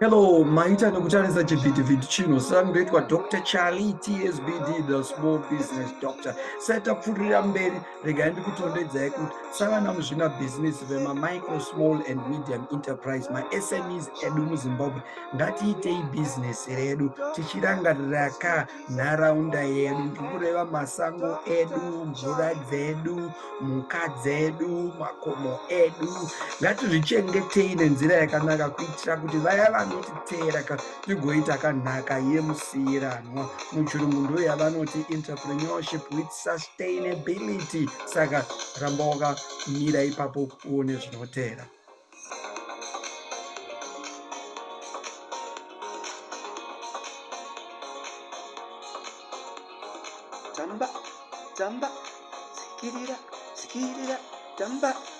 Hello, maita nekutarisa chivhitivhiti chino saka ndoitwa Dr. Charlie TSBD, the small business doctor. Seta pfurira mberi regai ndikutondedzai kuti savana muzvinabhizinesi vemamicro small and medium enterprise masmes edu muzimbabwe ngatiitei bhizinesi redu tichirangarira ka nharaunda yedu ndikureva masango edu mvura dzedu mhuka dzedu makomo edu ngatizvichengetei nenzira yakanaka kuitira kuti vaya vanotiteera ka tigoita kanhaka yemusiiranwa muchirungu ndoyavanoti entrepreneurship with sustainability saka ramba wakamira ipapo uone zvinoteera tamba tamba sikirira sikirira tamba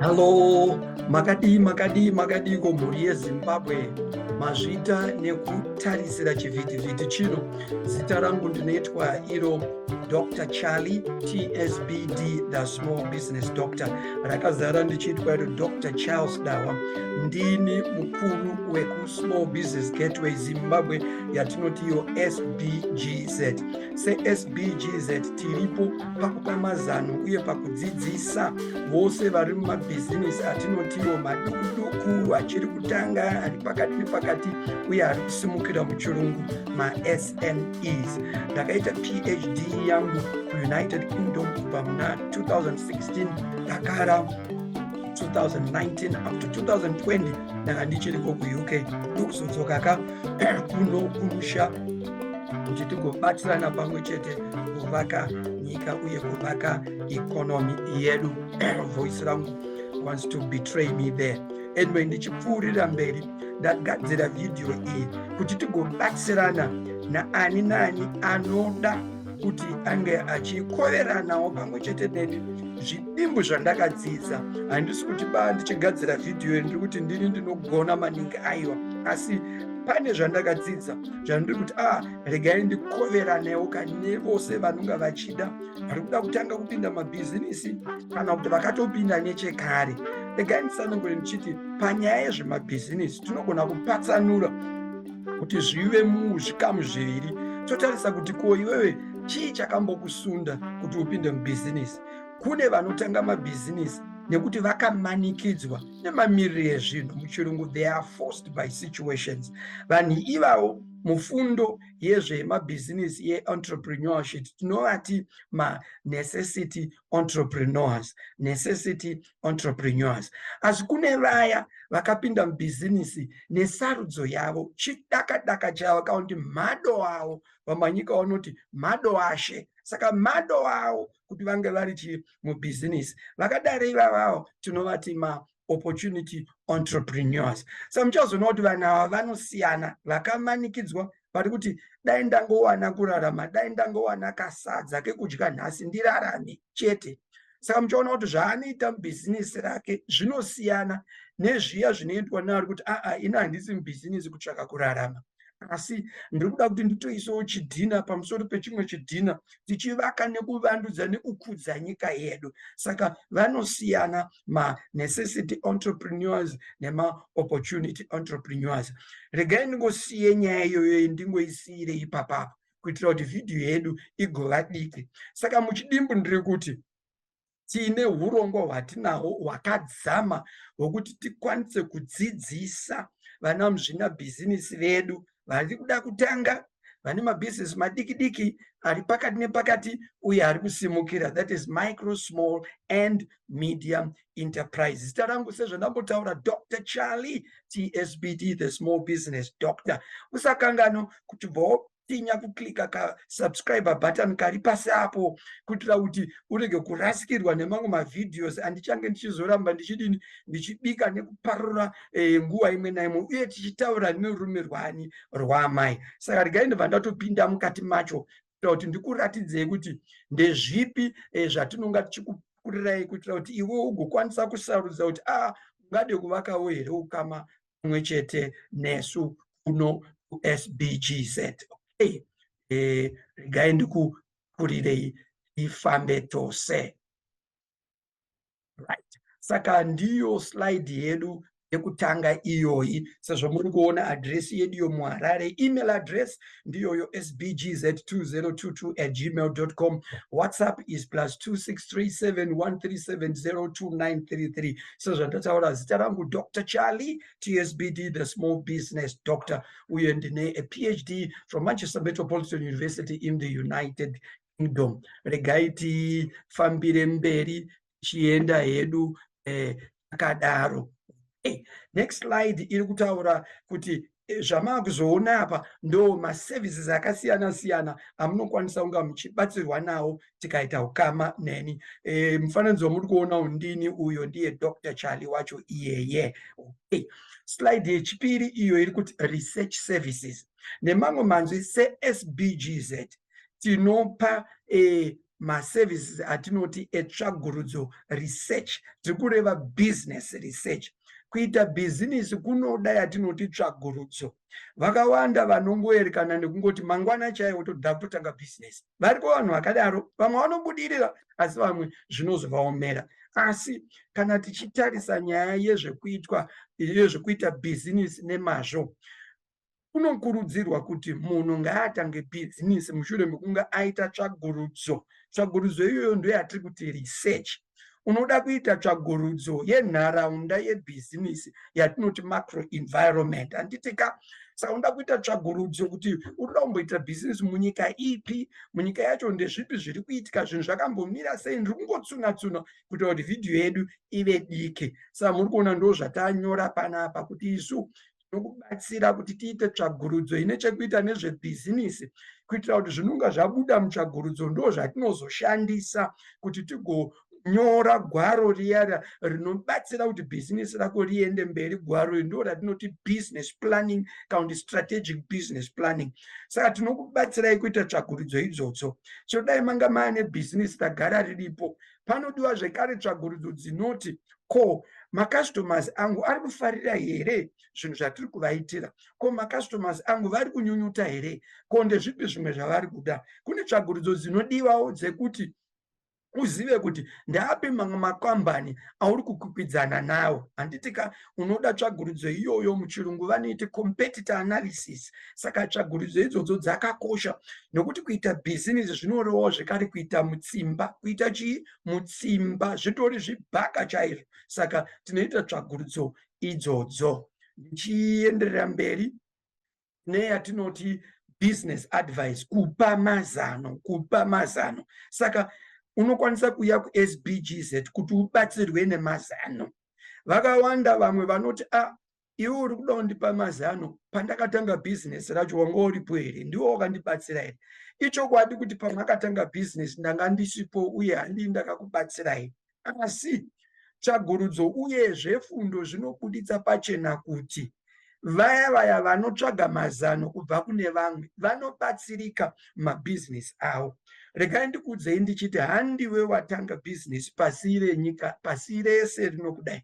Hello, makadii makadii makadii ko mhuri yezimbabwe mazvita nekutarisira chivhitivhiti chino zita rangu ndinoitwa iro dr charlie tsbd the small business doctor rakazara ndichiitwa iro dr charles dawa ndini mukuru weku small business gateway zimbabwe yatinoti iyo sbgz sesbgz tiripo pakupa mazano uye pakudzidzisa vose vari mumabhizinesi atinotiwo madukuduku achiri kutanga ari pakati nepakati uye ari kusimukira muchirungu masmes ndakaita phd yangu kuunited kingdom kubva muna 2016 dakara 2019 up to 2020 ndanga ndichiriko kuuk ndokuzodzoka ka kuno kumusha kuti tigobatsirana pamwe chete kuvaka nyika uye kuvaka economy yedu voice rangu wants to betray me there anyway ndichipfuurira mberi ndagadzira vhidhiyo iyi kuti tigobatsirana naani naani anoda kuti ange achikoveranawo pamwe chete neni zvidimbu zvandakadzidza handisi kuti ba ndichigadzira vhidhiyo iri ndiri kuti ndini ndinogona maningi aiwa asi pane zvandakadzidza zvandiri kuti a ah, regai ndikoveranewo kane vose vanonga vachida vari kuda kutanga kupinda mabhizinisi kana kuti vakatopinda nechekare regai ndisanangure ndichiti panyaya yezvemabhizinisi tinogona kupatsanura kuti zvive muzvikamu zviviri totarisa kuti ko iwewe chii chakambokusunda kuti upinde mubhizinisi kune vanotanga mabhizinisi nekuti vakamanikidzwa nemamiriro ezvinhu muchirungu they are forced by situations vanhu ivavo mufundo yezvemabhizinisi yeentrepreneurships tinovati manecessity entrepreneurs necessity entrepreneurs asi kune vaya vakapinda mubhizinisi nesarudzo yavo chidakadaka chavo kakuti mado avo vamanyika vanoti mado ashe saka mado avo kuti vange vari chii mubhizinisi vakadari ivavavo tinovati ma opportunity entrepreneurs sa muchazoona kuti vanhu ava vanosiyana vakamanikidzwa vari kuti dai ndangowana kurarama dai ndangowana kasadza kekudya nhasi ndirarame chete saka muchaona kuti zvaanoita mubhizinisi rake zvinosiyana nezviya zvinoitwa naari kuti aa ini handisi mubhizinisi kutsvaka kurarama asi ndiri kuda kuti nditoisawo chidhina pamusoro pechimwe chidhina tichivaka nekuvandudza nekukudza nyika yedu saka vanosiyana manecessity entrepreneurs nemaopportunity entrepreneurs regai ndingosiye nyaya iyoyo ndingoisiire ipapapa kuitira kuti vhidhiyo yedu igova diki saka muchidimbu ndiri kuti tiine urongwa hwatinahwo hwakadzama hwokuti tikwanise kudzidzisa vana muzvinabhizinisi vedu vari kuda kutanga vane mabusiness madiki diki ari pakati nepakati uye ari kusimukira that is micro small and medium enterprise zita rangu sezvandambotaura dr charlie tsbt the small business doctor usakangano kuti bvo tinya kuklika ka subscriber button kari pasi apo kuitira kuti urege kurasikirwa nemamwe mavhideos andichange ndichizoramba ndichidini ndichibika nekuparura e, nguva imwe naimwe uye tichitaura nerume rwani rwaamai saka regai ndobva ndatopinda mukati macho kuitira kuti ndikuratidzei kuti ndezvipi e, zvatinonga tichikukurirai kuitira kuti iwe ugokwanisa kusarudza kuti a ah, ungade kuvakawo here ukama pamwe chete nesu kuno kusbgz okay e, regai ndikukurirei ifambe tose right saka ndiyo slide yedu yekutanga iyoyi sezvo muri kuona adresi yedu yomuharare email address ndiyoyo sbgz 2022 at gmail com whatsapp is plus 263713702933 sezvandataura zita rangu dr charlie tsbd the small business doctor uye ndine a phd from manchester metropolitan university in the united kingdom regai tifambire mberi tichienda hedu eh, takadaro eh, Hey, next slide iri kutaura kuti eh, zvamaakuzoona apa ndo maservices akasiyana siyana amunokwanisa kunga muchibatsirwa nawo tikaita ukama neni e, mufananidzo wamuri kuona undini uyo ndiye dr charlie wacho iyeye okay. slide yechipiri iyo iri kuti research services nemamwe manzwi sesbgz tinopa eh, maservices atinoti etsvagurudzo research tiri kureva business research kuita bhizinisi kunoda yatinoti tsvagurudzo vakawanda vanongoerekana nekungoti mangwana chaiwo toda kutotanga bhizinesi variko vanhu vakadaro vamwe vanobudirira asi vamwe zvinozovaomera asi kana tichitarisa nyaya yezvekuitwa yezvekuita bhizinisi nemazvo kunokurudzirwa kuti munhu ngaatange bhizimisi mushure mekunge aita tsvagurudzo tsvagurudzo iyoyo ndo yatiri kuti research unoda kuita tsvagurudzo yenharaunda yebhizimisi yatinoti macro environment handiti ka saka unoda kuita tsvagurudzo kuti unoda kumboita bhizimisi munyika ipi munyika yacho ndezvipi zviri kuitika zvinhu zvakambomira sei ndiri kungotsunatsuna kuita kuti vhidhiyo yedu ive diki saka muri kuona ndo zvatanyora panapa kuti isu nokubatsira kuti tiite tsvagurudzo ine chekuita nezvebhizinisi kuitira kuti zvinonga zvabuda mutsvagurudzo ndo zvatinozoshandisa kuti tigonyora gwaro riyara rinobatsira kuti bhizinisi rako riende mberi gwaro iri ndo ratinoti business planning kana kuti strategic business planning saka tinokubatsirai kuita tsvagurudzo idzotso chinodai manga maane bhizinisi tagara riripo panodiwa zvekare tsvagurudzo dzinoti ko macustomers angu ari kufarira here zvinhu zvatiri kuvaitira ko macustomers angu vari kunyunyuta here ko ndezvipi zvimwe zvavari kuda kune tsvagurudzo dzinodiwawo dzekuti uzive kuti ndaapi mamwe makambani auri kukwikwidzana nawo handiti ka unoda tsvagurudzo iyoyo muchirungu vanoiti competitor analysis saka tsvagurudzo idzodzo dzakakosha nokuti kuita bhizinesi zvinorevawo zvekare kuita mutsimba kuita chii mutsimba zvitori zvibhaka chaizvo saka tinoita tsvagurudzo idzodzo ndichienderera mberi neyatinoti business advice kupa mazano kupa mazano saka unokwanisa kuuya kusbgz kuti ubatsirwe nemazano vakawanda vamwe vanoti a ah, iwe uri kuda kundipa mazano pandakatanga bhizinesi racho wanga uripo here ndiwo wakandibatsira here ichokwadi kuti pamwe akatanga bhizinesi ndanga ndisipo uye handii ndakakubatsira here Asi tsvagurudzo uyezve fundo zvinobuditsa pachena kuti vaya vaya vanotsvaga mazano kubva kune vamwe vanobatsirika mabhizinesi avo. Regai ndikuudzei ndichiti handiwe watanga bhizinesi pasi renyika, pasi rese rinokudai.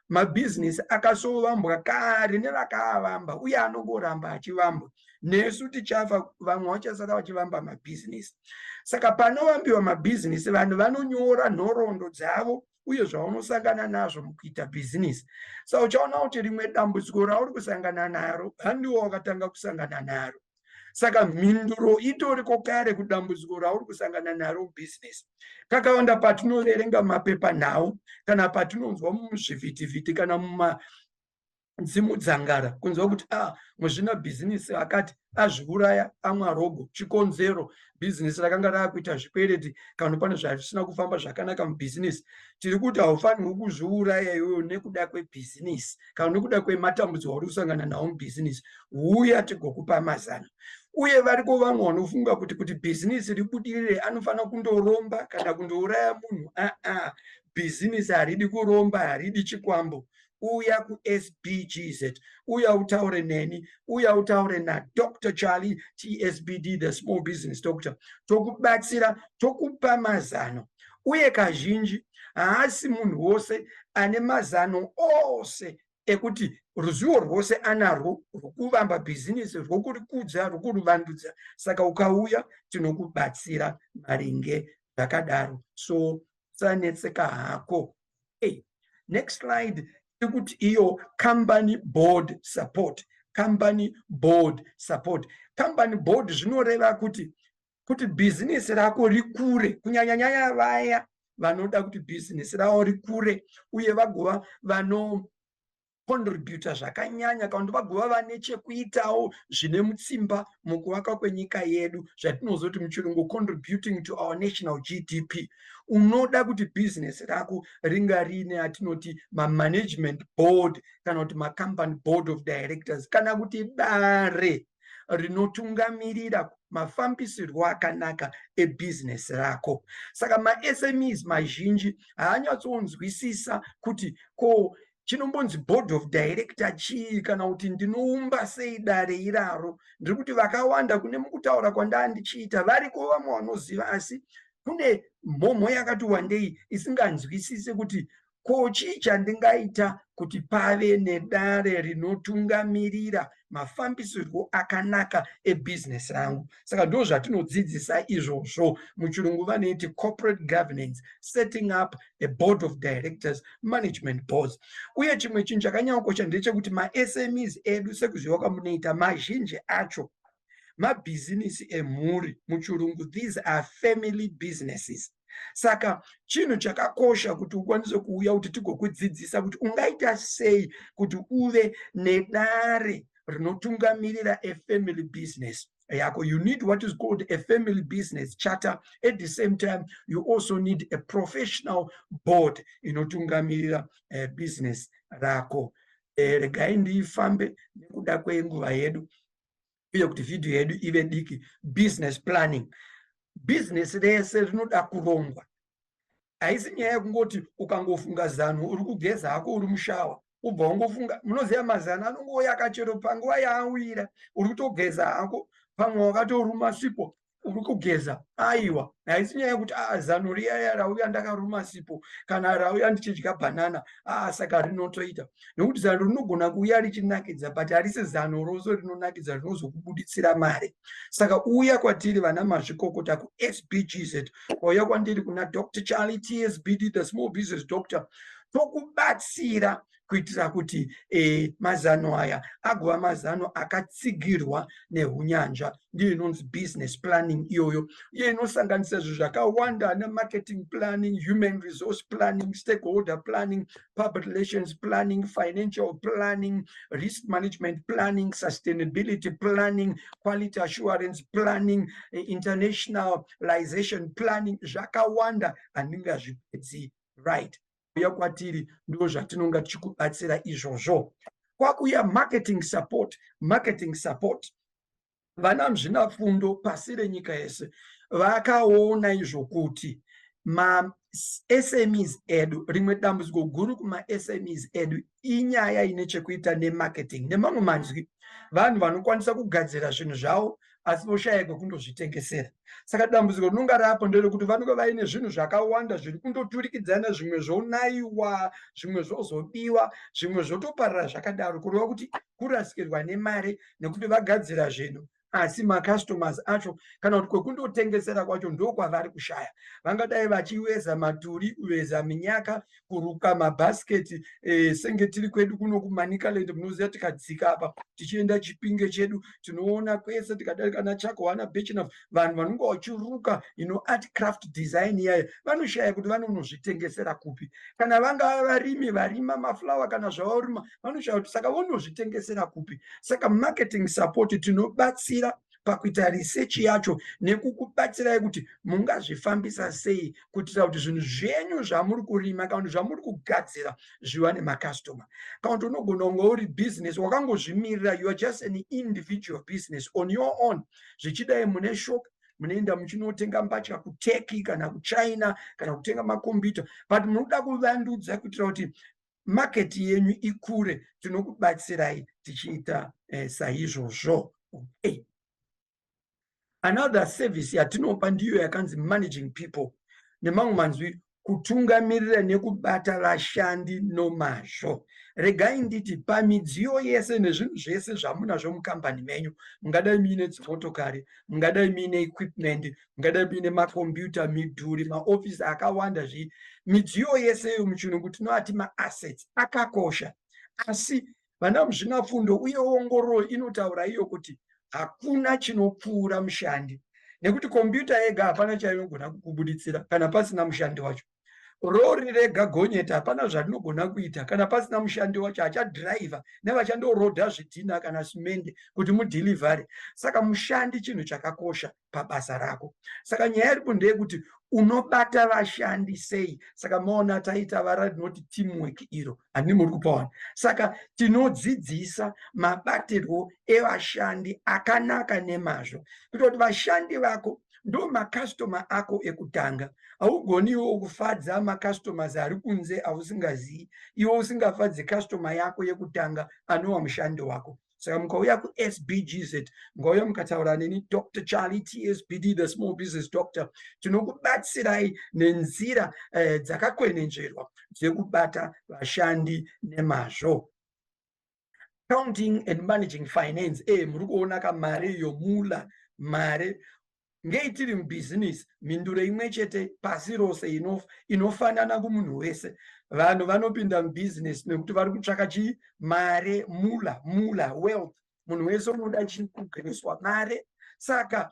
mabhizinesi akasovambwa kare nevakaavamba uye anongoramba achivambwa nesu tichafa vamwe vachasara vachivamba mabhizinesi saka panovambiwa mabhizinesi vanhu vanonyora nhoroondo dzavo uye zvaunosangana nazvo mukuita bhizinesi sa uchaona kuti rimwe dambudziko rauri kusangana naro handiwo wakatanga kusangana naro saka mhinduro itoriko kare kudambudziko rauri kusangana naro business kakawanda patinoverenga mapepa nhau kana patinonzwa muzvivhitivhiti kana muma dzimudzangara kunzwa kuti a ah, muzvina bhizinisi akati azviuraya amwa rogo chikonzero bhizinesi rakanga raakuita zvikwereti kana pane zvarisina kufamba zvakanaka mubhizinesi tiri kuti haufanirwi kuzviuraya iweyo nekuda kwebhizinesi kana nekuda kwematambudziko auri kusangana nawo mubhizinesi huya tigokupa mazano uye variko vamwe vanofunga kuti kuti bhizinesi ribudirire anofanira kundoromba kana kundouraya munhu aa bhizinesi haridi kuromba haridi chikwambo uya kusbgz uya utaure neni uya utaure nadr charlie tsbd the small business doctor tokubatsira tokupa mazano uye kazhinji haasi munhu wose ane mazano ose ekuti ruzivo rwose anarwo rwokuvamba bhizinisi rwokurikudza rwokuruvandudza saka ukauya tinokubatsira maringe zvakadaro so usanetseka hako hey. next slide tikuti iyo company board support company board support company board zvinoreva kuti kuti bhizinesi rako rikure kunyanya nyaya vaya vanoda kuti bhizinesi ravo rikure uye vagova vano contributa zvakanyanya kana kuti vagova vane chekuitawo zvine mutsimba mukuvaka kwenyika yedu zvatinozoti muchirungu contributing to our national gdp unoda kuti bhizinesi rako ringa riine atinoti mamanagement board kana kuti macompany board of directors kana kuti dare rinotungamirira mafambisirwo akanaka ebhizinesi rako saka masmes mazhinji haanyatsonzwisisa kuti ko chinombonzi board of director chii kana kuti ndinoumba sei dare iraro ndiri kuti vakawanda kune mukutaura kwandaa ndichiita variko vamwe vanoziva asi kune mhomho yakati wandei isinganzwisise kuti ko chii chandingaita kuti pave nedare rinotungamirira mafambisirwo akanaka ebusiness rangu saka ndo zvatinodzidzisa izvozvo muchirungu vanoiti corporate governance setting up a board of directors management boards uye chimwe chinhu chakanyanyokosha ndechekuti masmes edu sekuziva kwamunoita mazhinji acho mabhizinisi emhuri muchirungu these are family businesses saka chinhu chakakosha kuti ukwanise kuuya kuti tigokudzidzisa kuti ungaita sei kuti uve nedare rinotungamirira a family business yako you need what is called a family business charter at the same time you also need a professional board inotungamirira uh, business rako eh, regai ndiifambe nekuda kwenguva yedu uye kuti vhidhiyo yedu ive diki business planning business rese rinoda kurongwa haisi nyaya yekungoti ukangofunga zano uri kugeza hako uri mushawa ubva wangofunga munoziva mazano anongouya kachero panguva yaawira uri kutogeza hako pamwe wakatoruma sipo uri kugeza aiwa haisi nyaya yekuti aa ah, zano riyaya rauya ndakaruma sipo kana rauya ndichidya bhanana aa ah, saka rinotoita nekuti zano rinogona kuuya richinakidza but harisi zano rose rinonakidza rinozokubuditsira mari saka uya kwatiri vana mazvikokota kusbgz kwauya kwandiri kuna dr charlie tsbd the small business doctor tokubatsira kuitira kuti e, mazano aya agova mazano akatsigirwa neunyanzva ndiyo inonzi business planning iyoyo iye inosanganisa zvinhu zvakawanda ana marketing planning human resource planning stakeholder planning public relations planning financial planning risk management planning sustainability planning quality assurance planning eh, internationalization planning zvakawanda handingazvipedzi right uya kwatiri ndizvo zvatinonga tichikubatsira izvozvo kwakuya marketing support marketing support vana muzvinafundo pasi renyika yese vakaona izvo kuti masmes edu rimwe dambudziko guru kumasmes edu inyaya ine chekuita nemarketing nemamwe manzwi vanhu vanokwanisa kugadzira zvinhu zvavo asi voshaya kwekundozvitengesera saka dambudziko rinonga rapo nderekuti vanenge vaine zvinhu zvakawanda zviri kundoturikidzana zvimwe zvonayiwa zvimwe zvozobiwa zvimwe zvotoparira zvakadaro kureva kuti kurasikirwa nemari nekuti vagadzira zvinhu asi macustomers acho kana kuti kwekundotengesera kwacho ndokwavari kushaya vangadai vachiveza maturi kuveza minyaka kuruka mabhasiketi e, senge tiri kwedu kuno kumanicaland munoziva tikadzika apa tichienda chipinge chedu tinoona kwese tikadarika na chako wana bechina vanhu vanonga vachiruka ino art craft design iyayo vanoshaya kuti vanonozvitengesera kupi kana vangava varimi varima maflower kana zvavarima vanoshaya kuti saka vonozvitengesera kupi saka marketing support tinobatsira pakuita research yacho nekukubatsirai kuti mungazvifambisa sei kuitira kuti zvinhu zvenyu zvamuri kurima kana kuti zvamuri kugadzira zviwane makastoma kana kuti unogona kunge uri business wakangozvimirira you are just an individual business on your own zvichidai mune shop munoenda muchinotenga mbatya kuturkey kana kuchina kana kutenga makombiyuta but munoda kuvandudza kuitira kuti market yenyu ikure tinokubatsirai tichiita eh, saizvozvo okay another service yatinopa ndiyo yakanzi managing people nemamwe manzwi kutungamirira nekubata vashandi nomazvo regai nditi pamidziyo yese nezvinhu zvese zvamunazvo mukambani menyu mungadai muine dzimotokari mungadai muine equipment ngadai kuine makombiyuta midhuri maofisi akawanda zvii midziyo yese iyo muchirungu tinoati maassets akakosha asi vana muzvinapfundo uye ongororo inotaura iyo kuti hakuna chinopfuura mushandi nekuti kombiyuta yega hapana chainogona kukubuditsira kana pasina mushandi wacho rori rega gonyeti hapana zvarinogona kuita kana pasina mushandi wacho achadhiraivha nevachandoroda zvidhina kana simende kuti mudhilivhare saka mushandi chinhu chakakosha pabasa rako saka nyaya iripo ndeyekuti unobata vashandi sei saka maona taita vara rinoti teamwork iro handii muri kupawana saka tinodzidzisa mabatirwo evashandi akanaka nemazvo kuita kuti vashandi vako ndo makastoma ako ekutanga haugoni iwo kufadza macustomers ari kunze ausingazivi iwo usingafadze kastoma yako yekutanga anowa mushandi wako saka mukauya kusbgz ngauya mukataura neni dr charlie tsbd the small business doctor tinokubatsirai nenzira eh, dzakakwenenzverwa dzekubata vashandi nemazvo counting and managing finance e eh, muri kuona ka mari yomula mari ngei tiri mubhizinisi mhinduro imwe chete pasi rose inofa inofanana kumunhu wese vanhu vanopinda mubhizinesi nekuti vari kutsvaka chii mare mula mula wealth munhu wese unoda chii kugariswa mare saka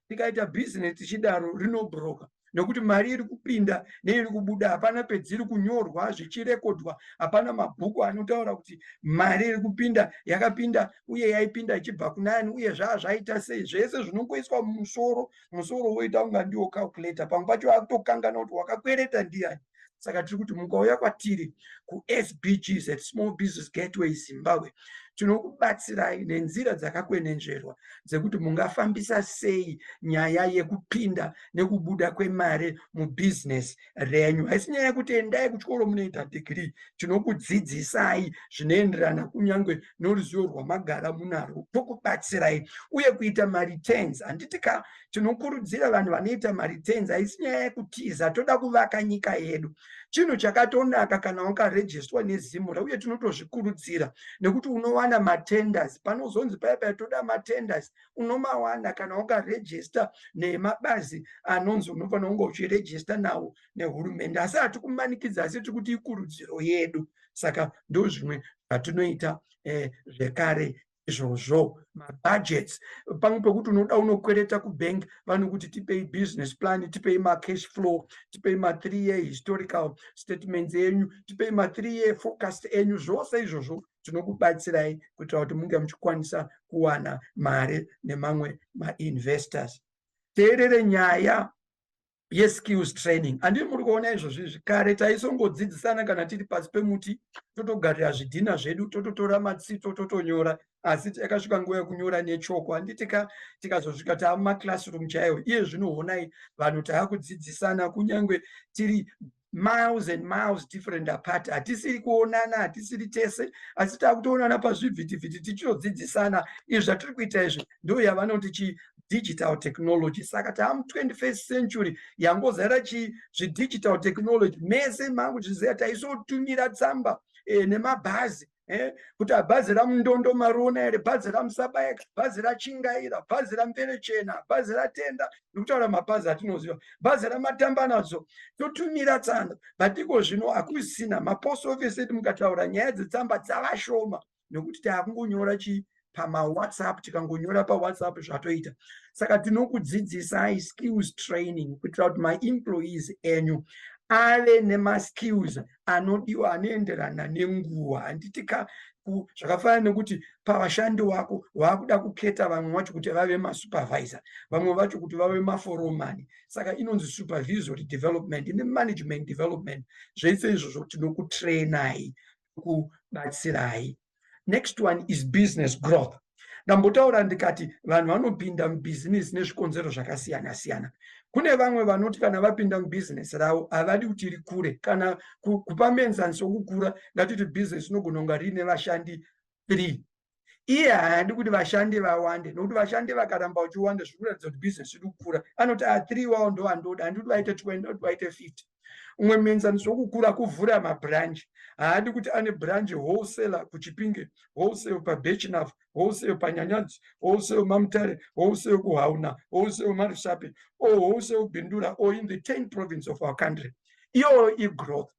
tikaita business tichidaro rinobroka nekuti mari iri kupinda neiri kubuda hapana pedziri kunyorwa zvichirekodwa hapana mabhuku anotaura kuti mari iri kupinda yakapinda uye yaipinda ichibva kunani uye zvaa zvaita sei zvese zvinongoiswa mumusoro musoro woita kunga ndiwo calculator pamwe pacho akutokanganwa kuti wakakwereta ndiyani saka tiri kuti mukauya kwatiri kusbg at small business gateway zimbabwe tinokubatsirai nenzira dzakakwenenzverwa dzekuti mungafambisa sei nyaya yekupinda nekubuda kwemari mubhizinesi renyu haisi nyaya yekuti endai kuchikoro munoita dhigiri tinokudzidzisai zvinoenderana kunyange noruzivo rwamagara munarwo tokubatsirai uye kuita mareturns handiti ka tinokurudzira vanhu vanoita mareturns haisi nyaya yekutiza toda kuvaka nyika yedu chinhu chakatonaka kana wakarejestwa nezimura uye tinotozvikurudzira nekuti unowana matenders panozonzi paya paya toda matenders unomawana kana wakarejesta nemabazi anonzi unofanira kunge uchirejesta nawo nehurumende asi hatikumanikidza asi tiri kuti ikurudziro yedu saka ndozvimwe zvatinoita eh, zvekare izvozvo mabudgets pamwe pekuti unoda unokwereta kubank vanokuti tipei business plan tipei macash flow tipei mathree year historical statements enyu tipei mathree year focust enyu zvose izvozvo tinokubatsirai kuitira kuti munge muchikwanisa kuwana mari nemamwe mainvestors teerere nyaya yeskills training andii muri kuona izvozvi izvi kare taisongodzidzisana kana tiri pasi pemuti totogarira zvidhina zvedu tototora matsito totonyora asi yakasvika nguva yekunyora nechoko handiti ka tikazosvika taa mumaclassroom chaiwo iye zvinoonai vanhu taakudzidzisana kunyange tiri miles and miles different apart hatisiri kuonana hatisiri tese asi takutoonana pazvivhitivhiti tichitodzidzisana izvi zvatiri kuita izvi ndo yavanoti chi digital technology saka taamu 21st century yangozara chi zvidigital technology mese mangu zviziva taisotumira tsamba e, nemabhazi eh, kuti abhazi ramundondo mariona here bhazi ramusabayeka bhazi rachingaira bhazi ramvere chena bhazi ratenda ndikutaura mabhazi atinoziva bhazi ramatambanadzo totumira tsamba but iko zvino hakusina mapost office edu mukataura nyaya dzetsamba dzavashoma nekuti taakungonyora chii pamawhatsapp tikangonyora pawhatsapp zvatoita saka tinokudzidzisai skills training kuitira kuti maemployees enyu ave nemaskills anodiwa anoenderana nenguva handiti ka zvakafanana nekuti pavashandi wako waakuda kuketa vamwe vacho kuti vave masupervisor vamwe vacho kuti vave maforomani saka inonzi supervisory development nemanagement development zvese izvozvo tinokutrainai kubatsirai next one is business growth ndambotaura ndikati vanhu vanopinda mubhizinesi nezvikonzero zvakasiyana siyana kune vamwe vanoti kana vapinda mubhizinesi ravo havadi kuti rikure kana kupa muenzaniso wokukura ngatiti bhizinesi inogona kunga riine vashandi three iye haadi kuti vashandi vawande nokuti vashandi vakaramba vachiwanda zviri kuratidza kuti business iri kukura anoti a ah, three wavo ndo andoda handidi kuti vaite twenty ndokuti vaite fifty umwe muenzaniso wokukura kuvhura mabranch haadi kuti ane branch wholesaler kuchipinge wholesale pabechinaf wholesale panyanyadzi wholesale mamutare wholesale kuhauna wholesale marishapi o wholesale bindura o in the ten province of our country iyoyo igrowth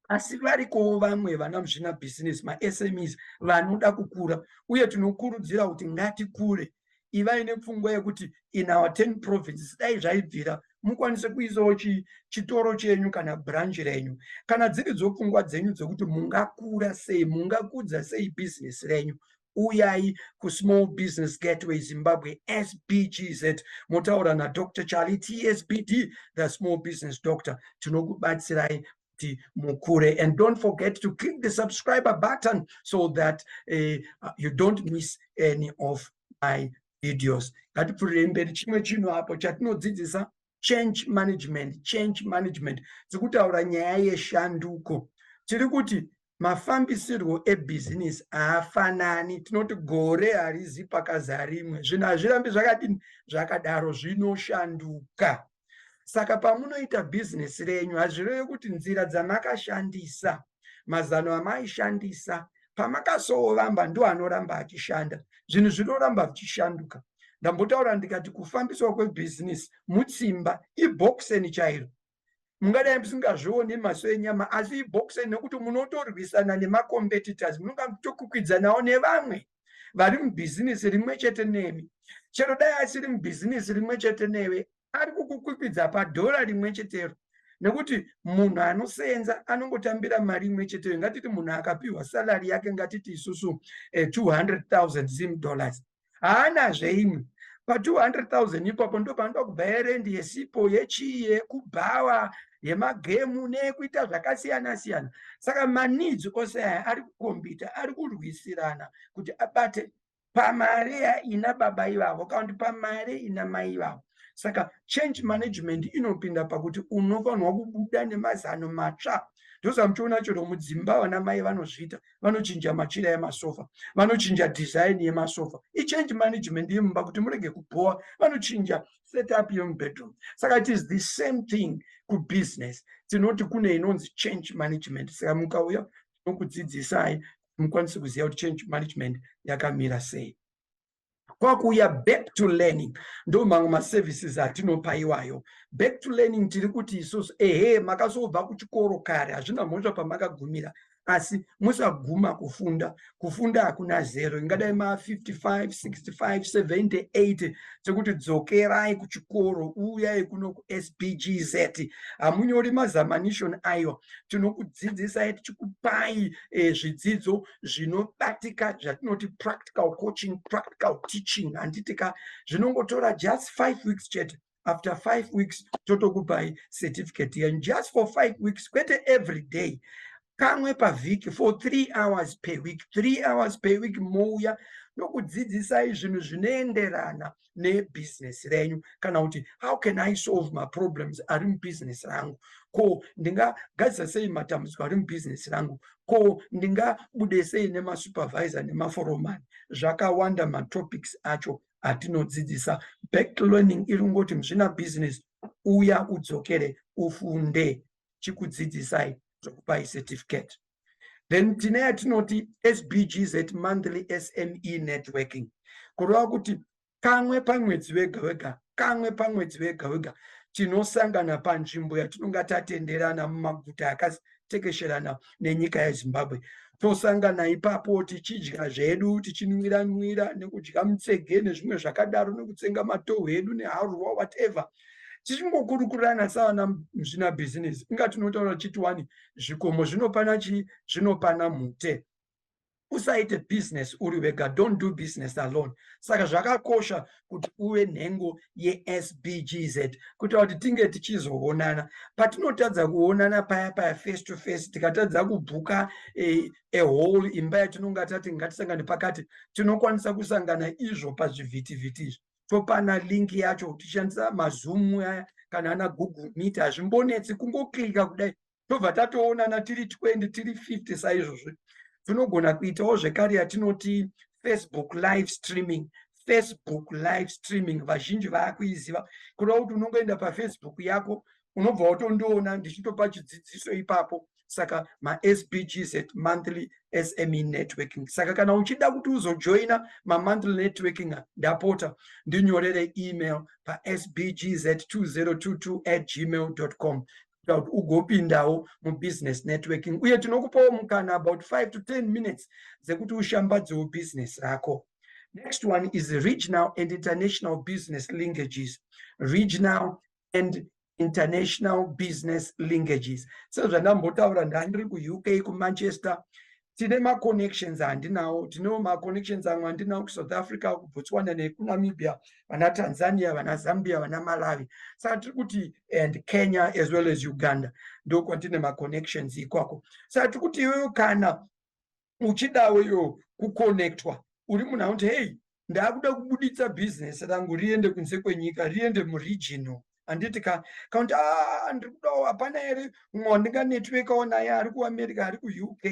asi varikowo vamwe vana muzvina business masmes vanoda kukura uye tinokurudzira kuti ngatikure ivai nepfungwa yekuti in our ten provinces dai zvaibvira mukwanise kuisawo chitoro chenyu kana branch renyu kana dziri dzopfungwa dzenyu dzekuti mungakura sei mungakudza sei business renyu uyai kusmall business gateway zimbabwe sbgz motaura nadr charlie tsbd the small business doctor tinokubatsirai kuti mukure and don't forget to click the subscriber button so that uh, you don't miss any of my videos ngatipfurirei mberi chimwe chinhu apo chatinodzidzisa change management change management tiri kutaura nyaya yeshanduko tiri kuti mafambisirwo ebhizinisi haafanani tinoti gore harizi pakaza rimwe zvinhu hazvirambi zvakadini zvakadaro zvinoshanduka saka pamunoita bhizinesi renyu hazvireve kuti nzira dzamakashandisa mazano amaishandisa pamakasovamba ndo anoramba achishanda zvinhu zvinoramba zvichishanduka ndambotaura ndikati kufambiswa kwebhizinisi mutsimba ibhokiseni chairo mungadai musingazvioni maso enyama asi ibhokiseni nekuti munotorwisana nemacompetitors munonga muchitokwikwidza nevamwe vari mubhizinisi rimwe chete nemi chero dai asiri mubhizinisi rimwe chete newe ari kukukwikwidza padhora rimwe chetero nekuti munhu anoseenza anongotambira mari imwe cheteyo ngatiti munhu akapiwa salari yake ngatiti isusu eh, 200000 zim dollars haanazve imwe pa200000 ipapo ndo panoda kubva yerendi yesipo yechii yekubhawa yemagemu neyekuita zvakasiyana siyana saka maneeds ose aya ari kukombita ari kurwisirana kuti abate pamari ina baba ivavo kana kuti pamari ina mai ivavo saka change management inopinda pakuti unofanirwa kubuda nemazano matsva ndosamuchiona chero mudzimba vana mai vanozviita vanochinja machira emasofa vanochinja design yemasofa ichange management yemumba kuti murege kubhowa vanochinja setup yemubedroom saka it is the same thing kubusiness tinoti kune inonzi change management saka mukauya tinokudzidzisai mukwanise kuziva kuti change management yakamira sei kwakuuya back to learning ndo mamwe maservices atinopa iwayo back to learning tiri kuti isusu ehe makazobva kuchikoro kare hazvina mhosva pamakagumira asi musaguma kufunda kufunda hakuna zero ingadai ma 55 65 70 80 sekuti dzokerai kuchikoro uyai kuno kusbgz hamunyori mazamanishon ayo tinokudzidzisai tichikupai eh, zvidzidzo zvinobatika zvatinoti practical coaching practical teaching handiti ka zvinongotora just five weeks chete after five weeks totokupai certificate yenyu just for five weeks kwete every day kamwe pavhiki for three hours per week three hours per week mouya nokudzidzisai zvinhu zvinoenderana nebusiness renyu kana kuti how can i solve maproblems ari mubusiness rangu ko ndingagadzisa sei matambudziko ari mubusiness rangu ko ndingabude sei nemasupervisor nemaforomani zvakawanda matopics acho atinodzidzisa back learning iri kungoti muzvina business uya udzokere ufunde chikudzidzisai zvokupai certificate then tine yatinoti sbgz monthly sme networking kureva kuti kamwe pamwedzi vega vega kamwe pamwedzi vega vega tinosangana panzvimbo yatinonga tatenderana mumaguta akatekesherana nenyika yezimbabwe tosangana ipapo tichidya zvedu tichinwira nwira nekudya mutsege nezvimwe zvakadaro nekutsenga matohwe edu neharurwa whatever tichingokurukurana savana muzvina bhizinesi inga tinotaura tichiti wani zvikomo zvinopana chii zvinopana mhute usaite business uri wega don't do business alone saka zvakakosha kuti uve nhengo yesbgz kuitira kuti tinge tichizoonana patinotadza kuonana paya paya face to face tikatadza kubhuka eh, a whole imba yatinonga tati ngatisangane pakati tinokwanisa kusangana izvo pazvivhitivhiti izvi topana link yacho tichishandisa mazoom aya kana ana google meet hazvimbonetsi kungoklika kudai tobva tatoonana tiri 20 tiri 50 saizvozvi tinogona kuitawo zvekare yatinoti facebook live streaming facebook live streaming vazhinji vaakuiziva kuda kuti unongoenda pafacebook yako unobva watondiona ndichitopa chidzidziso ipapo saka masbgs at monthly sme networking saka kana uchida kuti uzojoina mamonthly networking ndapota ndinyorere email pasbgs at 2022 at gmail com kuti ugopindawo mubusiness networking uye tinokupawo mukana about 5 to 10 minutes dzekuti ushambadzewo business rako next one is regional and international business linkages regional and international business linkages sezvandambotaura ndandiri kuuk kumanchester tine maconnections andinawo tinewo maconnections amwe andinawo kusouth africa kubotswana nekunamibia vana tanzania vana zambia vana malawi saka tiri kuti and kenya as well as uganda ndokwatine maconnections ikoko saka tiri kuti iyoyo kana uchidawo iyo kuconnectwa uri munhu akuti hei ndakuda kubuditsa business rangu riende kunze kwenyika riende muregional handiti ka kakuti ah, ndiri kudawo hapana here mumwe wandinga networkawo naye ari kuamerica ari kuuk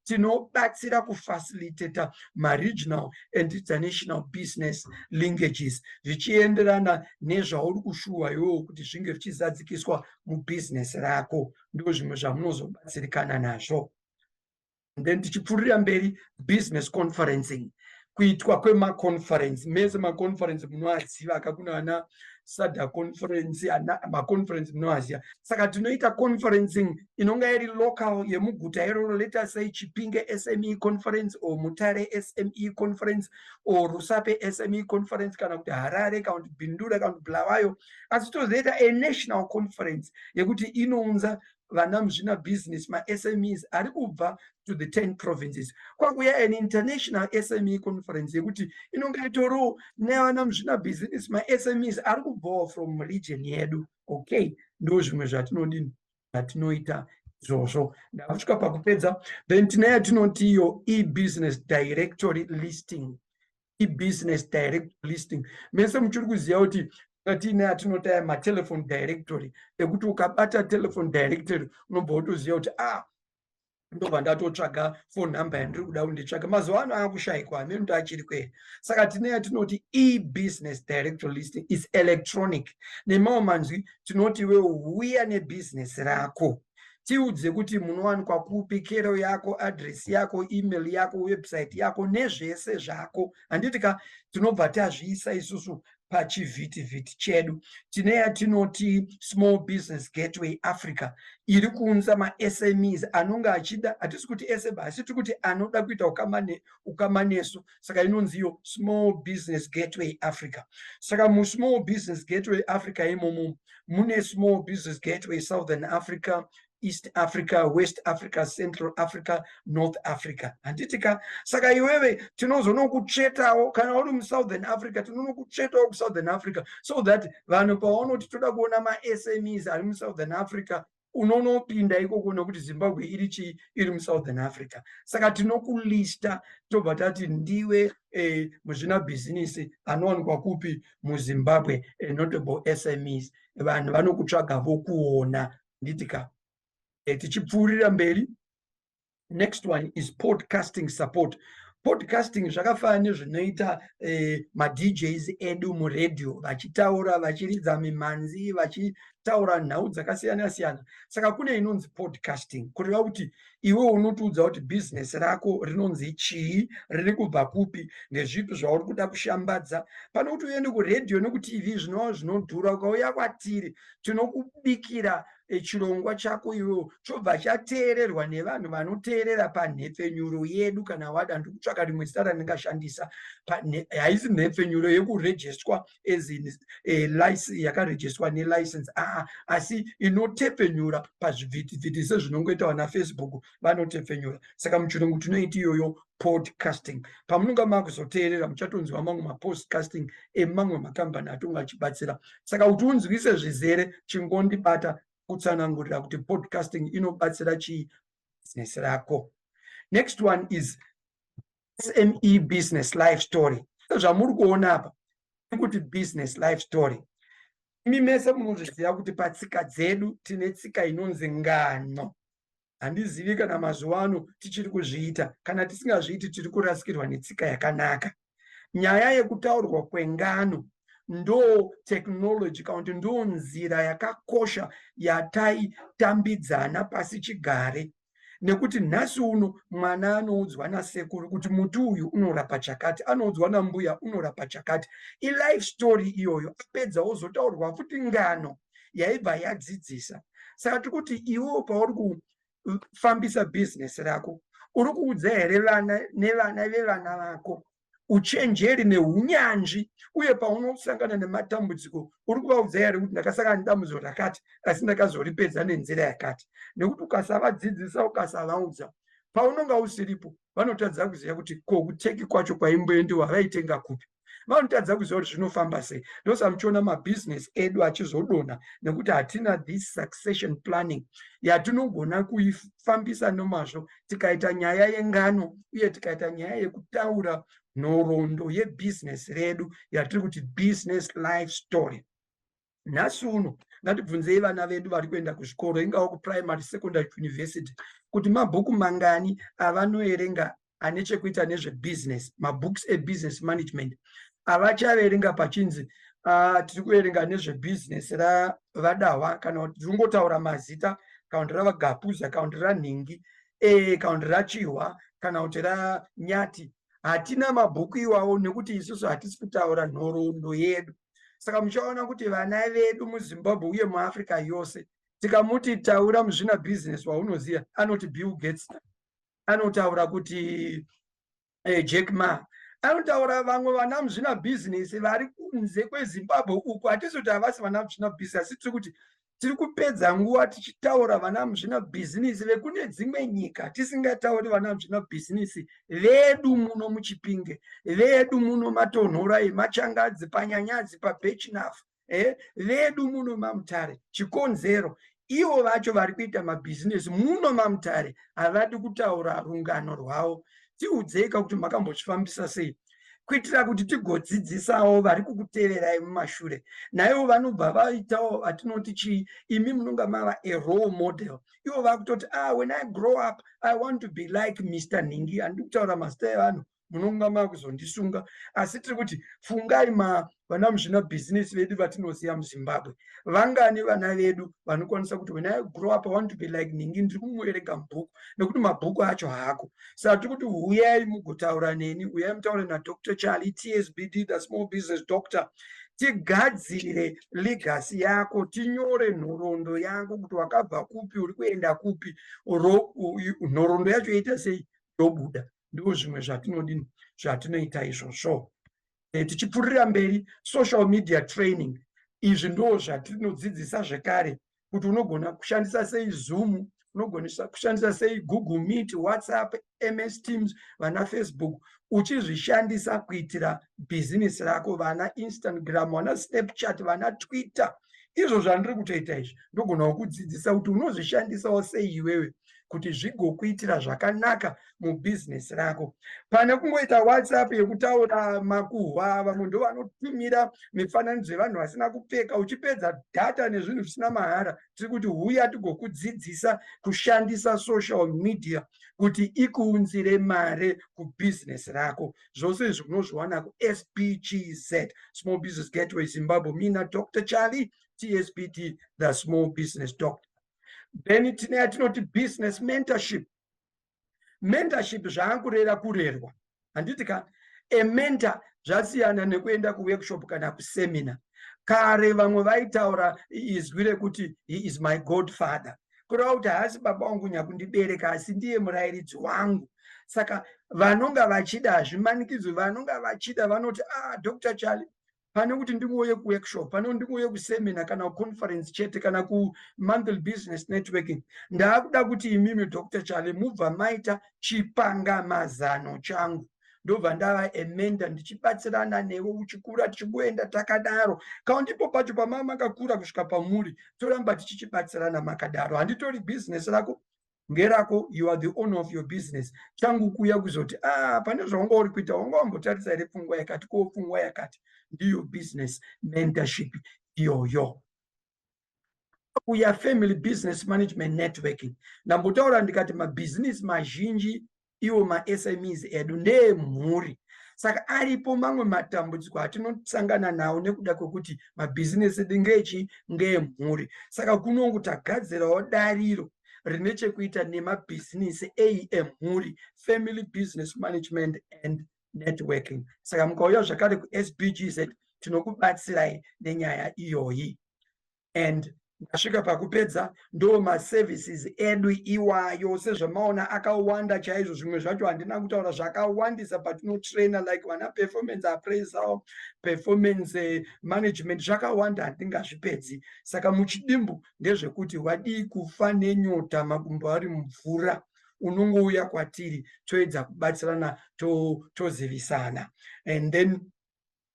tinobatsira kufacilitata maregional and international business linkages zvichienderana nezvauri kushuwa iwowo kuti zvinge zvichizadzikiswa mubusiness rako ndo zvimwe zvamunozobatsirikana nazvo then tichipfuurira mberi business conferencing kuitwa kwemaconference mese maconference munoaziva aka kuna ana sada conference ana maconference munoaziva saka tinoita conferencing inonga iri local yemuguta iroro leta sei chipinge sme conference or mutare sme conference or rusape sme conference kana kuti harare kana kuti bindura kana kuti bulawayo asi tozoita a national conference yekuti inounza vana muzvina business masmes ari kubva to the 10 provinces kwakuya an international sme conference yekuti inonge yatoriwo nevana muzvina business masmes ari kubvawo from region yedu okay ndo zvimwe zvatinodini zvatinoita izvozvo ndakusvika pakupedza then tine yatinoti iyo ebusiness directory listing ibusiness direct listing mese muchiri kuziva kuti tiine atinotaya matelephone directory ekuti ukabata telephone directory unobva wotoziva kuti a ah, ndobva ndatotsvaga phone number yandiri kuda kuti nditsvake mazuva ano ava kushaikwa hameno kuti achiri kwere saka tine yatinoti ebusiness directory listing is electronic nemamwe manzwi tinoti iwewo huya nebusiness rako tiudze kuti munowanikwa kupi kero yako address yako email yako website yako nezvese zvako handiti ka tinobva tazviisa isusu pachivhitivhiti chedu tine yatinoti small business gateway africa iri kuunza masmes anonge achida hatisi kuti ese asi tiri kuti anoda kuita ukama nesu saka inonzi iyo small business gateway africa saka musmall business gateway africa imomo mune small business gateway southern africa east africa west africa central africa north africa handiti ka saka iwewe tinozonokutsvetawo kana uri musouthern africa tinonokutsvetawo kusouthern africa so that vanhu pavanoti toda kuona masmes ari musouthern africa unonopinda ikoko nokuti zimbabwe iri chii iri musouthern africa saka tinokulista tobva tati ndiwe eh, muzvina bhizinisi anowanikwa kupi muzimbabwe eh, notable smes vanhu vanokutsvaga vokuona nditika eh, tichipfuurira mberi next one is podcasting support podcasting zvakafanana nezvinoita eh, madjs edu muradio vachitaura vachiridza mimhanzi vachitaura nhau dzakasiyana siyana saka kune inonzi podcasting kureva kuti iwe unotiudza kuti bhizinesi rako rinonzi chii riri kubva kupi ndezvipi zvauri kuda kushambadza pane kuti uende kuradio nekutv zvinova zvinodhura ukauya kwatiri tinokubikira e, chirongwa chako iwewo chobva chateererwa nevanhu vanoteerera panhepfenyuro yedu kana wada ndikutsvaka rimwe zita randingashandisa haisi nhepfenyuro yekurejestwa as in, e, yakarejestwa nelicense aa asi inotepfenyura pazvivhitivhiti sezvinongoita vana facebook vanotepfenyura saka muchirungu tinoiti iyoyo podcasting pamunonga makuzoteerera muchatonzwa mamwe mapodcasting emamwe makambani atonga achibatsira saka kuti unzwise zvizere chingondibata kutsanangurira kuti podcasting inobatsira chii business rako next one is sme business life story zvamuri kuona apa ikuti business life story imi mese munozviziva kuti patsika dzedu tine tsika inonzi ngano handizivi kana mazuva ano tichiri kuzviita kana tisingazviiti tiri kurasikirwa netsika yakanaka nyaya yekutaurwa kwengano ndo technology kana kuti ndo nzira yakakosha yataitambidzana pasi chigare nekuti nhasi uno mwana anoudzwa nasekuru kuti muti uyu unorapa chakati anoudzwa nambuya unorapa chakati ilife story iyoyo apedza ozotaurwa futi ngano yaibva yadzidzisa saka tiri kuti iwewo pauri kufambisa bhizinesi rako uri kuudza here vana nevana vevana vako uchenjeri neunyanzvi uye paunosangana nematambudziko uri kuvaudza here kuti ndakasangana nedambudziko rakati asi ndakazoripedza nenzira yakati nekuti ukasavadzidzisa ukasavaudza paunonga usiripo vanotadza kuziva kuti ko kuteki kwacho kwaimboendiwa vaitenga kupi vanotadza kuziva kuti zvinofamba sei ndosa muchiona mabusiness edu achizodonha nekuti hatina this succession planning yatinogona kuifambisa nomazvo tikaita nyaya yengano uye tikaita nyaya yekutaura nhoroondo yebusiness redu yatiri kuti business life story nhasi uno ngatibvunzei vana vedu vari kuenda kuzvikoro ingava kuprimary secondary kuuniversity kuti mabhuku mangani avanoerenga ane chekuita nezvebusiness mabooks ebusiness management avachaverenga pachinzi uh, tiri kuverenga nezvebusiness ravadahwa kana kuti tiri kungotaura mazita kana kuti ravagapuza kana kuti ranhingi e, kana kuti rachihwa kana kuti ranyati hatina mabhuku iwawo nekuti isusu hatisi kutaura nhoroondo yedu saka muchaona kuti vana vedu muzimbabwe uye muafrica yose tikamuti taura muzvina business waunoziva anoti bill gates anotaura kuti eh, jack ma anotaura vamwe vana muzvina business vari kunze kwezimbabwe uku hatisi kuti havasi vana muzvina business asi tiri kuti tiri kupedza nguva tichitaura vana muzvina bhizinisi vekune dzimwe nyika tisingatauri vana muzvina bhizinisi vedu muno muchipinge vedu muno matonhorai machangadzi panyanyadzi pabechinafu eh, vedu muno mamutare chikonzero ivo vacho vari kuita mabhizinesi muno mamutare havadi kutaura rungano rwavo tiudzeika kuti makambozvifambisa sei kuitira kuti tigodzidzisawo vari kukuteverai mumashure naivo vanobva vaitawo vatinoti chii imi munonga mava a role model ivo vakutoti ah when i grow up i want to be like mr nhingi handikutaura mazita evanhu munonga makuzondisunga asi tiri kuti fungai vana muzvina bhizinesi vedu vatinoziva muzimbabwe vangani vana vedu vanokwanisa kuti when i grow up i want to be like ningi ndiri kumuerega mubhuku nekuti mabhuku acho haako saka tiri kuti huyai mugotaura neni uyai mutaure nadr charlie tsbd the small business doctor tigadzire legasi yako tinyore nhoroondo yako kuti wakabva kupi uri kuenda kupi nhoroondo yacho yoita sei ndobuda ndoo zvimwe zvatinodini zvatinoita izvozvo eh, tichipfuurira mberi social media training izvi ndoo zvatinodzidzisa zvekare kuti unogona kushandisa sei zoom unogona kushandisa sei google meet whatsapp ms teams vana facebook uchizvishandisa kuitira bhizinesi rako vana instagram vana snapchat vana twitter izvo zvandiri kutoita izvi ndogona kukudzidzisa kuti unozvishandisawo sei iwewe kuti zvigokuitira zvakanaka mubhizinesi rako pane kungoita whatsapp yekutaura makuhwa vamwe ndo vanotumira mifananidzo yevanhu vasina kupfeka uchipedza data nezvinhu zvisina mahara tiri kuti huya tigokudzidzisa kushandisa social media kuti ikuunzire mare kubhizinesi rako zvose izvi unozviwana kuspgz small business gateway zimbabwe mina dr charlie tspd the small business doctor then tine yatinoti business mentorship mentorship zvaankurera kurerwa handiti ka a mentor zvasiyana nekuenda kuworkshop kana kusemina kare vamwe vaitaura izwi rekuti he is my god father kureva kuti haasi baba wangu nyakundibereka asi ndiye murayiridzi wangu saka vanonga vachida hazvimanikidzwi vanonga vachida vanoti ah dr charlie pane kuti ndingouye kuworkshop pane kuti ndingouye kusemina kana kuconference chete kana kumonthly business networking ndaakuda kuti imimi dr chale mubva maita chipangamazano changu ndobva ndava emenda ndichibatsirana newe uchikura tichigoenda takadaro kana ndipo pacho pamama makakura kusvika pamuri toramba tichichibatsirana makadaro handitori bhizinesi rako ngerako you are the owner of your business changu kuuya kuzoti ah pane zvawanga uri kuita wanga wambotarisa here pfungwa yakati ko pfungwa yakati ndiyo business mentorship iyoyo kuya family business management networking ndambotaura ndikati mabhizinesi mazhinji iwo masmes edu ndeemhuri saka aripo mamwe matambudziko atinosangana nawo nekuda kwekuti mabhizinesi edu ngeechi ngeemhuri saka kunongu tagadzirawo dariro rine chekuita nemabhizinesi eyi emhuri family business management and networking saka mukauya zvakare kusbgz tinokubatsirai nenyaya iyoyi and ndasvika pakupedza ndo maservices edu iwayo sezvamaona akawanda chaizvo zvimwe zvacho handina kutaura zvakawandisa patinotraina like vana performance appraisal performance eh, management zvakawanda handingazvipedzi saka muchidimbu ndezvekuti wadii kufa nenyota makumbo ari mvura unongouya kwatiri toedza kubatsirana tozivisana to and then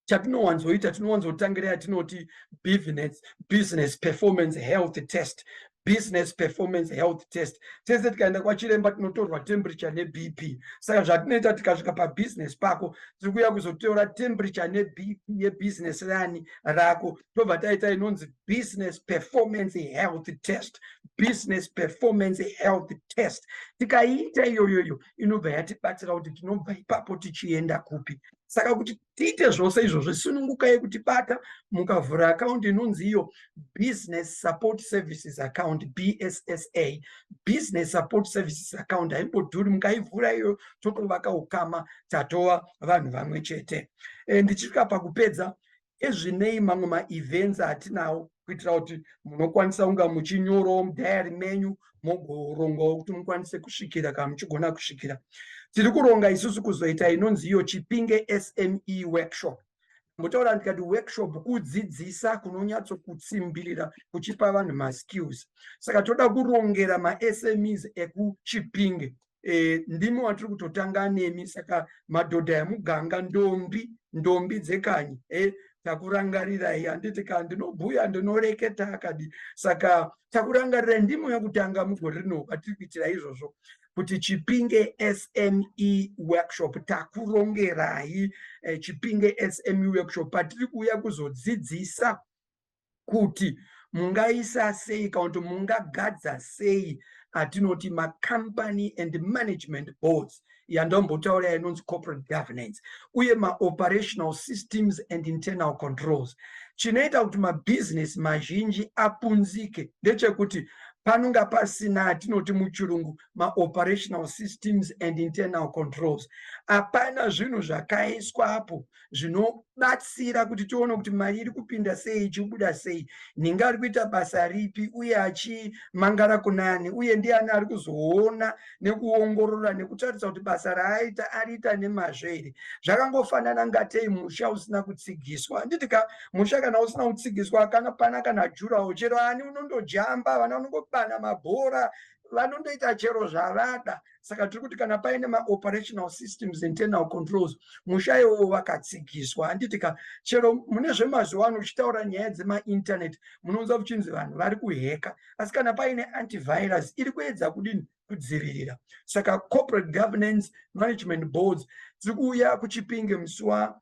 chatinowanzoita tinowanzotangira yatinoti business, business performance health test business performance health test tese tikaenda kwachiremba tinotorwa temperature nebp saka zvatinoita tikasvika pabusiness pako tiri kuuya kuzotora temperature nebp yebusiness rani rako tobva taita inonzi business performance health test business performance health test tikaiita iyoyoyo inobva yatibatsira kuti tinobva ipapo tichienda kupi saka kuti tiite zvose izvozvo sunungukai kutibata mukavhura akaundi inonzi iyo business support services account bssa business support services account haimbodhuri mukaivhura iyoyo totovaka ukama tatova vanhu vamwe chete e, ndichisvika pakupedza ezvinei mamwe maevents atinawo kuitira kuti munokwanisa kunga muchinyorawo mudhayari menyu mogorongawo kuti mukwanise kusvikira kana muchigona kusvikira tiri kuronga isusu kuzoita inonzi iyo chipinge sme workshop mbotaura ndikati workshop kudzidzisa kunonyatsokutsimbirira kuchipa vanhu maskills saka toda kurongera masmes ekuchipinge e, ndimi watiri kutotanga nemi saka madhodha emuganga ndombi ndombi dzekanyi e, takurangarirai handiti ka ndinobhuya ndinoreketa akadi saka takurangarirai ndimo yekutanga mugore rino patiri kuitira izvozvo kuti chipinge sme workshop takurongerai eh, chipinge sme workshop patiri kuuya kuzodzidzisa kuti mungaisa sei kana kuti mungagadza sei atinoti macompany and management boards yandombotaura yainonzi corporate governance uye maoperational systems and internal controls chinoita kuti mabhizinesi mazhinji apunzike ndechekuti panonga pasina atinoti muchirungu maoperational systems and internal controls hapana zvinhu zvakaiswa apo zvinobatsira kuti tione kuti mari iri kupinda sei ichibuda sei ninga ari kuita basa ripi uye achimangara kunani uye ndiani ari kuzoona nekuongorora nekutarisa kuti basa raaita ariita nemazvo here zvakangofanana ngatei musha usina kutsigiswa handiti ka musha kana usina kutsigiswa kana pana kana jurawo chero ani unondojamba vana unongobana mabhora vanondoita chero zvavada saka tiri kuti kana paine maoperational systems internal controls musha iwowo vakatsigiswa handiti ka chero mune zvemazuva ano uchitaura nyaya dzemainternet munounza kuchinzi vanhu vari kuheka asi kana paine antivirus iri kuedza kudini kudzivirira saka corporate governance management boards dziri kuuya kuchipinge musi wa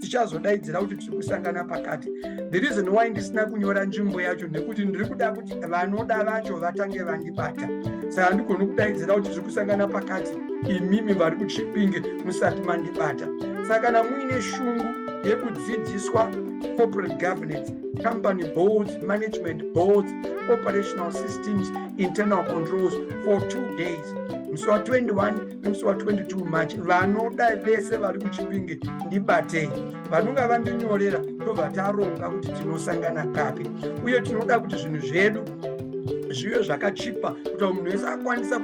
tichazodaidzira kuti tiri kusangana pakati the reason why ndisina kunyora nzvimbo yacho nekuti ndiri kuda kuti vanoda vacho vatange vandibata saka ndigoni kudaidzira kuti tiri kusangana pakati imimi vari kuchipinge musati mandibata saka kana muine shungu yekudzidziswa corporate governance company boards management boards operational systems internal controls for two days musi wa 21 musi wa 22 march vanoda vese vari kuchipinge ndibatei vanonge vandinyorera ndobva taronga kuti tinosangana papi uye tinoda kuti zvinhu zvedu zvive zvakachipa kuti munhu wese akwanisa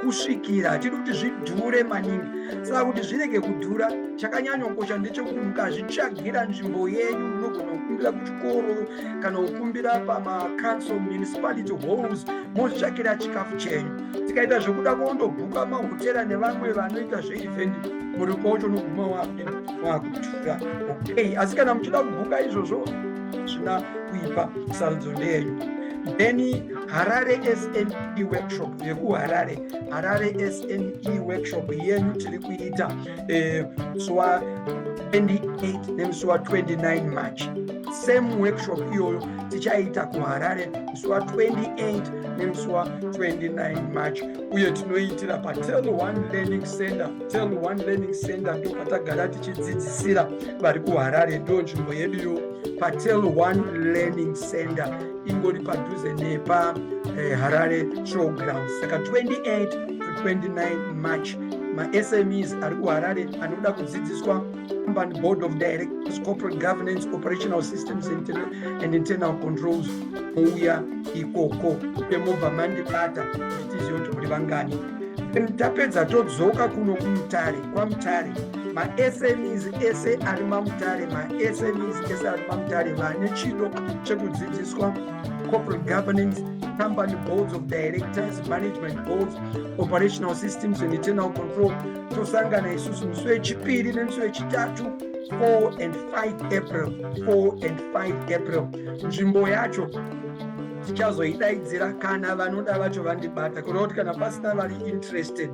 kusvikira hatidi kuti zvidhure maningi saka kuti zvirege kudhura chakanyanyokosha ndechekuti mukazvitsvagira nzvimbo yenyu munogona kukumbira kuchikoro kana kukumbira pamacouncil municipality halls mozvitsvagira chikafu chenyu tikaita zvekuda kundobhuka mahotera nevamwe vanoita zveevent muri kwacho unoguma wakutura okay asi kana muchida kubhuka izvozvo zvina kuipa sarudzo ndeyenyu then harare sne workshop yekuharare harare sne workshop yenyu tiri kuita eh, zuva 28 nemusi wa 29 march same workshop iyoyo tichaita kuharare musi wa28 nemusi wa29 march uye tinoitira patel one learning center tel one learning center ndo patagara tichidzidzisira vari kuharare ndo nzvimbo yedu yo patel one learning center ingori padhuze nepa eh, harare showgrounds saka 28 to 29 march masmes ari kuharare anoda kudzidziswa company board of directors corporate governance operational systems and internal controls mouya ikoko emobva mandibata nditizive kuti muri vangani then tapedza todzoka kuno kumutare kwamutare masmes ese ari mamutare masmes ese ari mamutare vane chido chekudzidziswa corporate governance company boards of directors management boards operational systems and internal control tosangana isusu musi wechipiri nemusi wechitatu 4 and 5 april 4 and 5 april nzvimbo yacho tichazoidaidzira kana vanoda vacho vandibata kureva kuti kana pasina vari interested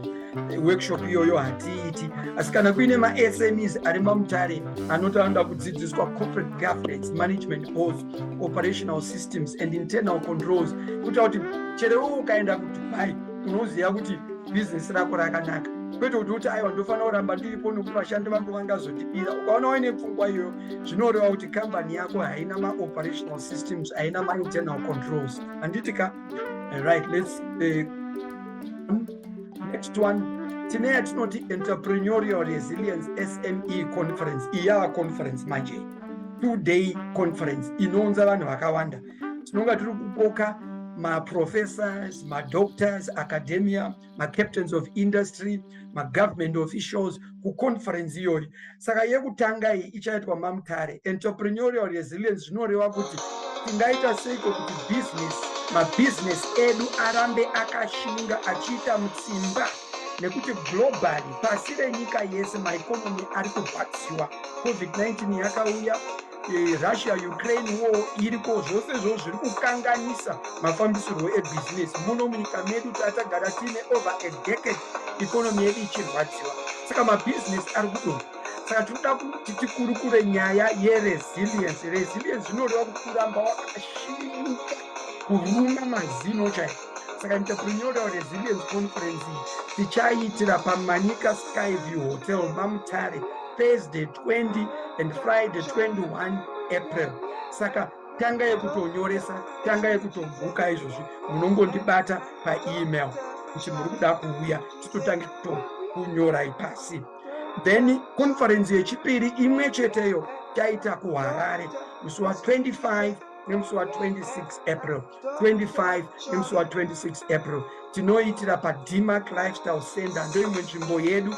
eh, workshop iyoyo hatiiti asi kana kuine masmes ari mamutare anoti anoda kudzidziswa corporate governance management of operational systems and internal controls kuita kuti cherewo ukaenda kudubai unoziva kuti bhizinesi rako rakanaka kwete kuti uti aiwa ndofanira kuramba ndiripo nokuti vashandi vangu vangazondibira ukaona waine pfungwa iyoyo zvinoreva kuti kambani yako haina maoperational systems haina mainternal controls handiti ka right let's uh, next one tine yatinoti entrepreneurial resilience sme conference iyava conference manje two day conference inounza vanhu vakawanda tinonga tiri kukoka maprofessors madoctors academia macaptains of industry magovernment officials kuconference iyoyi saka yekutanga iyi ichaitwa mamutare entrepreneurial resilience zvinoreva kuti tingaita seiko kuti business mabhizinesi edu arambe akashinga achiita mutsimba nekuti globally pasi renyika yese maekonomi ari kurwadziwa covid-19 yakauya eh, russia ukraine war iriko zvose zvo zviri kukanganisa mafambisirwo ebhizinesi muno munyika medu tatagara tiine over a decade ikonomi yedu ichirwadziwa saka mabhizinesi ari kudonha saka tinoda kuti tikurukure nyaya yeresilience resilience zvinoreva kuti kuramba wakashinuka kuruma mazino chaiko saka entrepreneur resilience conference tichaiitira pamanika skyview hotel mamutare thursday 20 and friday 21 april saka tanga yekutonyoresa tanga yekutobhuka izvozvi munongondibata paemail kuti muri kuda kuuya titotange kutonyorai pasi then conference yechipiri imwe cheteyo taita kuharare musi wa 25 nemusi wa 26 april 25 nemusi wa 26 april tinoitira padmac lifestyle center ndoimwe nzvimbo yedu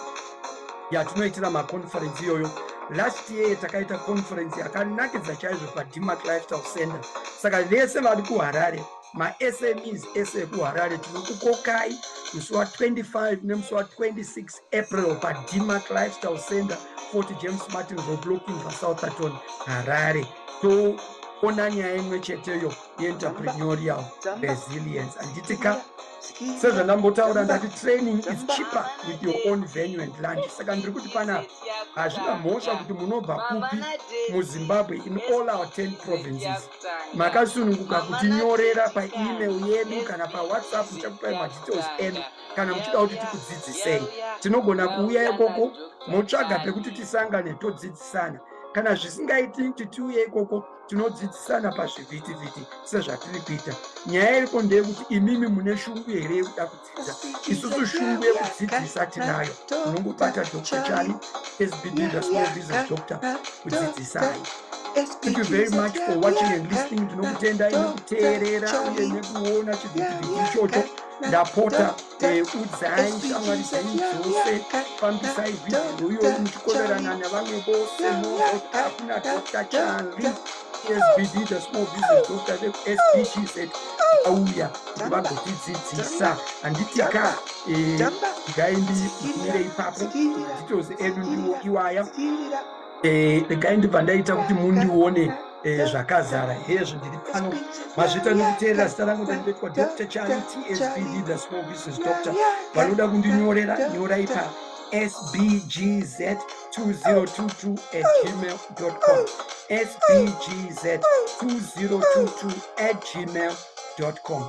yatinoitira maconference iyoyo last year takaita conference yakanakidza chaizvo padmac lifestyle center saka vese vari kuharare masmes ese ekuharare tinokukokai musi wa 25 nemusi wa 26 april padmac lifestyle center 40 james martin roblocking vasouth aton harare toona nyaya imwe cheteyo yeentreprenorial resilience handiti ka sezvandambotaura ndati training is cheaper with your own venue and land saka ndiri kuti panapa hazvina mhosva kuti munobva kupi muzimbabwe in all our ten provinces makasununguka kutinyorera paemail yedu kana pawhatsapp tichakupai madetails enu kana muchida kuti tikudzidzisei tinogona kuuya ikoko motsvaga pekuti tisangane todzidzisana kana zvisingaiti kuti tiuye ikoko tinodzidzisana pazvivhitivhiti sezvatiri kuita nyaya iriko ndeyekuti imimi mune shungu here yekuda kudzidza isusu shungu yekudzidzisa tinayo unongobata dr chani sbb the small business doctor kudzidzisai Thank you very much for watching and listening. Tinokutendayi nekuteerera uye nekuona chivhitivhiti ichocho. ndapota eh, udzai shamwari dzenyu dzose fambisai vhidhiyo iyoyi muchikoverana nevamwe vose mozoti hakuna dr chali sbd the small business doctor sbgz auya kuti vagotidzidzisa handiti ka eh, ndikaindi kumire ipapo nditozi edu ndiwo iwaya Eh, regai ndibva ndaita kuti mundione eh, zvakazara hezvo ndiri pano mazvita nekuteerera zita rangu ndandinoitwa dr chari tsbd the small business doctor vanoda kundinyorera nyorai pa sbgz 2022 at gmail com sbgz 2022 at gmail com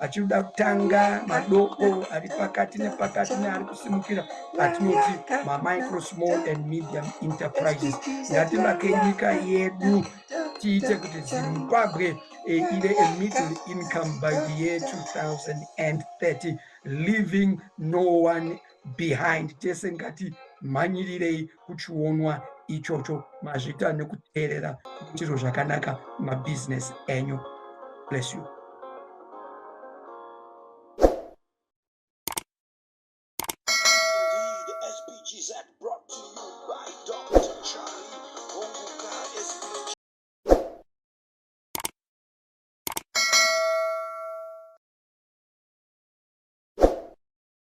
achinoda kutanga madoko ari pakati nepakati neari kusimukira atinoti mamicro small and medium enterprises ngativake nyika yedu tiite kuti zimbabwe eh, ive a middle income by the year 2030 leaving no one behind tese ngati mhanyirirei kuchionwa ichocho mazvita nekuteerera kuitiro zvakanaka mabusiness enyu bless you